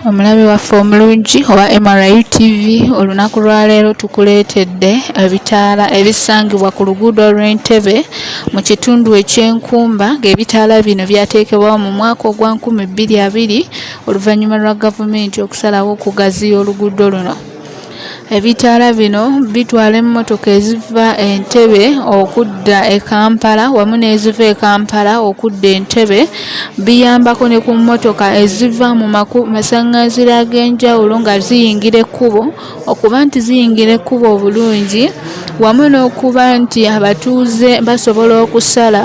Omulabi waffe omulungi owa MRU TV olunaku lwa leero tukuleetedde ebitaala ebisangibwa ku luguudo lw'e Ntebe mu kitundu eky'Enkumba ng'ebitaala bino byateekebwawo mu mwaka ogwa nkumi bbiri abiri oluvannyuma lwa gavumenti okusalawo okugaziya oluguudo luno. Ebitaala bino bitwala emmotoka eziva e Ntebe okudda e Kampala wamu n'eziva e Kampala okudda e Ntebe. Biyambako ne ku mmotoka eziva mu masaŋŋanzira ag'enjawulo nga ziyingira ekkubo okuba nti ziyingira ekkubo obulungi wamu n'okuba nti abatuuze basobola okusala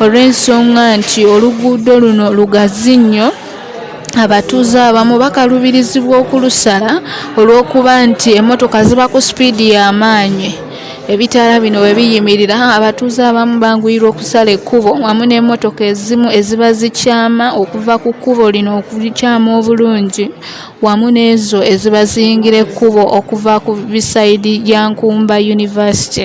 olw'ensonga nti oluguudo luno lugazi nnyo. abatuuze abamu bakalubirizibwa okulusala olw'okuba nti emmotoka ziba ku sipiidi y'amaanyi ebitaala bino bwe biyimirira abatuuze abamu banguyirwa okusala ekkubo wamu n'emmotoka ezimu eziba zikyama okuva ku kkubo lino okukyama obulungi wamu n'ezo eziba ziyingira ekkubo okuva ku bisayidi ya nkumba yunivasite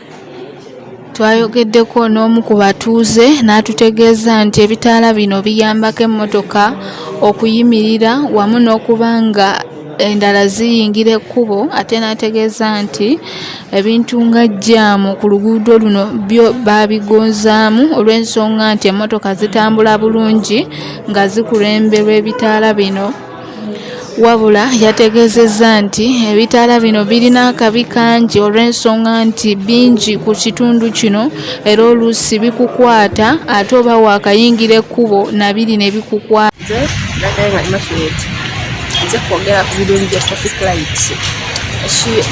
twayogeddeko n'omu ku batuuze n'atutegeeza nti ebitaala bino biyambako emmotoka okuyimirira wamu n'okuba nga endala ziyingira ekkubo ate n'ategeeza nti ebintu nga jjaamu ku luguudo luno byo baabigonzaamu olw'ensonga nti emmotoka zitambula bulungi nga zikulemberwa ebitaala bino Wabula yategeezezza nti ebitaala bino birina akabi kangi olw'ensonga nti bingi ku kitundu kino era oluusi bikukwata ate oba waakayingira ekkubo na biri ne bikukwata.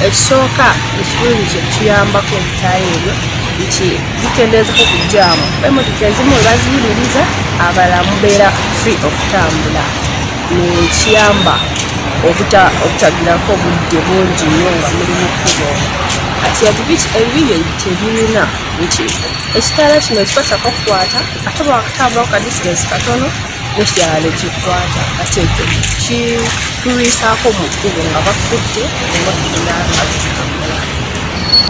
ekisooka ekirungi kyetuyambako ebitaayo ebyo nti bikendeezako ku jaamu emotoka ezimu webaziyimiriza abala mubeera free okutambula nekiyamba obutagirako obudde bungi nyo nga muli mukubo ati ebibiki ebibiri tebirina nti ekitaala kino kikwata kakukwata ate bwakatambulako kadistance katono mukyalo kikwata kasente kitulwisaako mu kkubo nga bakutte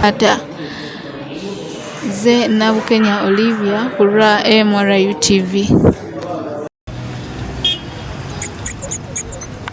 ata ze nabukenya olivia ku lwa mru tv